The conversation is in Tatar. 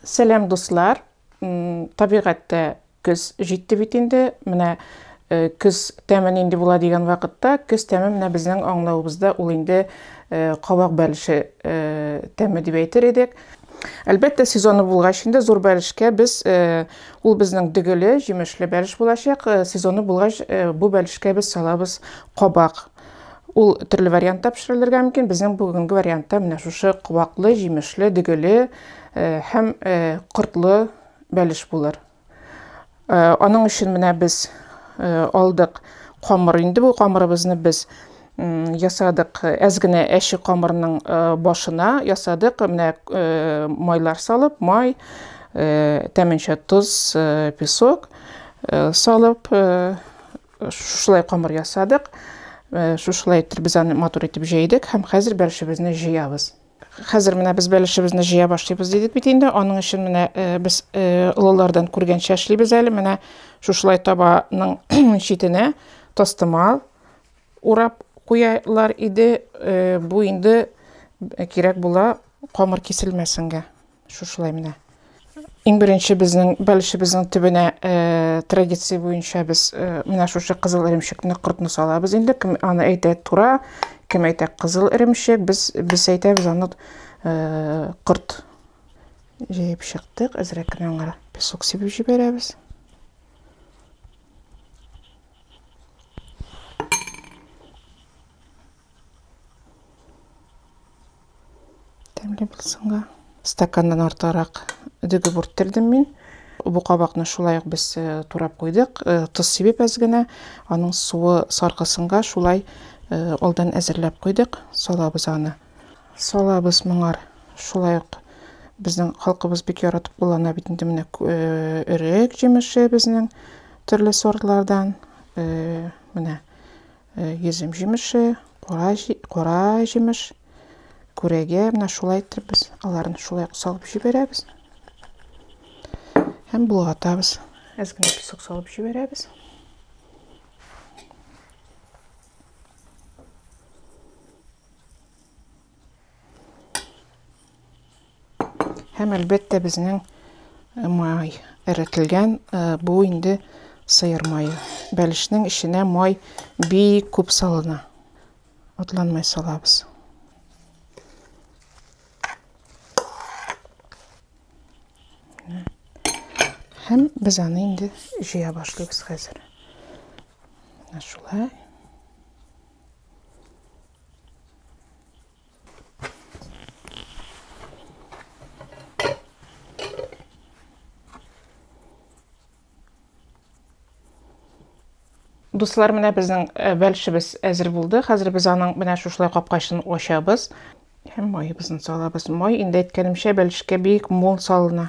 Сәлам дуслар! Табигатьтә көз җитте бит инде. Менә көз тәме нинди була дигән вакытта, көз тәме менә безнең аңлавыбызда ул инде кабак бәлеше тәме дип әйтер идек. Әлбәттә, сезоны булгач инде зур бәлешкә без ул безнең дөгеле, җимешле бәлеш булачак. Сезоны булгач, бу бәлешкә без салабыз кабак. Ул төрле вариантта пешерелергә мөмкин. Безнең бүгенге вариантта менә шушы кубаклы, җимешле, дөгеле һәм кортлы бәлеш булыр. Аның өчен менә без алдык камыр. Инде бу камырыбызны без ясадык әз генә әче камырның башына ясадык менә майлар салып май тәменчә тоз песок салып Шушылай камыр ясадык. Э, шушылай итеп без аны матур итеп җәйдек һәм хәзер бәлешебезне җыябыз. Хәзер менә без бәлешебезне җыя башлыйбыз дидек бит инде. Аның өчен менә э, без э, олылардан күргәнчә эшлибез әле. Менә шушылай табаның читенә тастымал урап куялар иде. Бу инде кирәк була камыр киселмәсенгә. Шушылай менә. Иң беренче безнең бәлешебезнең төбенә э, традиция буенча без э, менә шушы кызыл эремчекне кортны салабыз инде. Кем аны әйтә тура, кем әйтә кызыл эремчек, без без әйтәбез аны э, корт. Җыеп чыктык, әзрәк кенә аңа песок сибеп җибәрәбез. Тәмле булсынга. Стаканнан артыграк дөге бүрттердем мин. Бу кабакны шулай ук без э, турап куйдык. Э, тоз сибеп әз генә, аның суы саркысынга шулай э, алдан әзерләп куйдык. Салабыз аны. Салабыз моңар шулай ук безнең халкыбыз бик яратып куллана бит инде менә өрек җимеше безнең төрле сортлардан. Менә Йөзем җимеше, кара җимеш, күрәгә, менә шулай итеп без аларны шулай салып җибәрәбез. Һәм болгатабыз. Әз генә песок салып җибәрәбез. Һәм әлбәттә безнең э, май эретелгән э, бу инде сыер мае. Бәлешнең эченә май бик күп салына. Атланмай салабыз. Һәм без аны инде җыя башлыйбыз хәзер. Шулай. Дуслар, менә безнең э, бәлшебез әзер булды. Хәзер без аның менә шушылай капкачын ачабыз. Һәм майыбызны салабыз. Май инде әйткәнемчә бәлешкә бик мул салына.